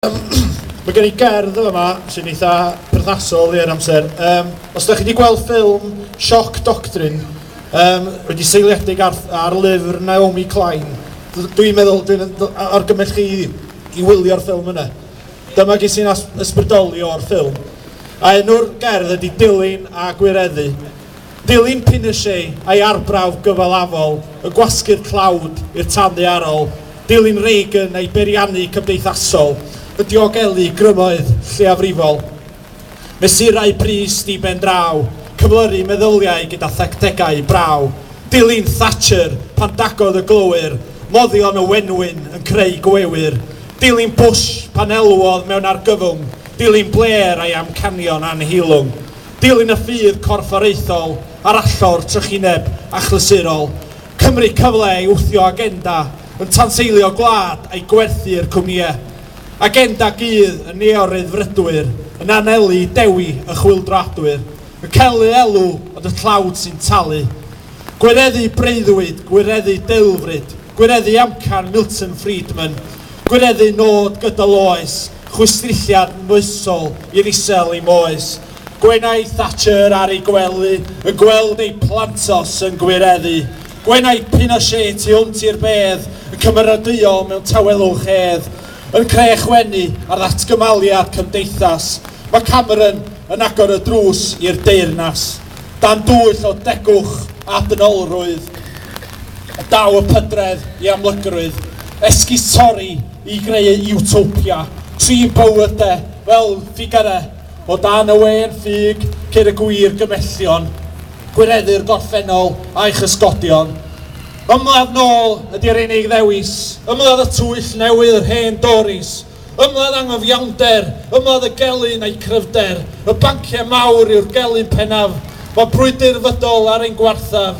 Mae gen i gerdd yn fama sy'n eitha perthnasol i'r amser. Um, os da chi wedi gweld ffilm Shock Doctrine, um, wedi seiliedig ar, ar lyfr Naomi Klein, dwi'n meddwl, dwi'n argymell chi i wylio'r ffilm yna. Dyma gys i'n ysbrydoli o'r ffilm. A enw'r gerdd ydy Dilyn a Gwireddu. Dilyn Pinochet a'i arbrawf gyfalafol yn gwasgu'r tlawd i'r tân ddaearol, dilyn Reagan a'i beiriannu cymdeithasol yn diogelu grymoedd lleiafrifol, mesurau pris di-ben draw, cyflyru meddyliau gyda thactegau braw, dilyn Thatcher pan dagodd y glowyr moddion y wenwyn yn creu gwewyr, dilyn Bush pan elwodd mewn argyfwng, dilyn Blair a'i amcanion annheilwng. dilyn y ffydd corfforaethol ar allor trychineb achlysurol Cymru cyfle i wthio agenda yn tanseilio gwlad a'i gwerthu i'r cwmnïau. Agenda gudd y neo-ryddfrydwyr yn anelu i dewi y chwyldroadwyr, yn celu elw ond y tlawd sy'n talu. Gwireddu breuddwyd, gwireddu deulfryd. Gwireddu amcan Milton Friedman, gwireddu nod gydol oes, chwistrelliad moesol i'r isel i moes. Gwenai Thatcher ar ei gwely yn gweld ei plantos yn gwireddu. Gwenai Pinochet tu hwnt i'r bedd yn cymeradwyo mewn tawelwch hedd, yn crech wenu ar ddatgymaliad cymdeithas. Mae Cameron yn agor y drws i'r deyrnas. dan dwyll o degwch a dynolrwydd, a daw y pydredd i amlygrwydd, esgus torri i greu Utopia, trin bywyd de fel ffigyre o dan y wên ffug ceir y gwir gymellion, gwireddu'r gorffennol a'i chysgodion. Ymladd nôl ydy'r unig ddewis, ymladd y twyll newydd yr hen Doris, Ymladd anghyfiawnder, ymladd y gelyn a'i chryfder. Y banciau mawr yw'r gelyn pennaf, mae brwydr fydol ar ein gwarthaf.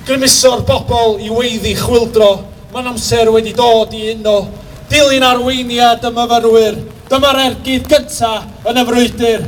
Grymuso'r bobl i weiddi chwyldro, mae'n amser wedi dod i uno. Dilyn arweiniad y myfyrwyr, dyma'r ergyd gyntaf yn y frwydr.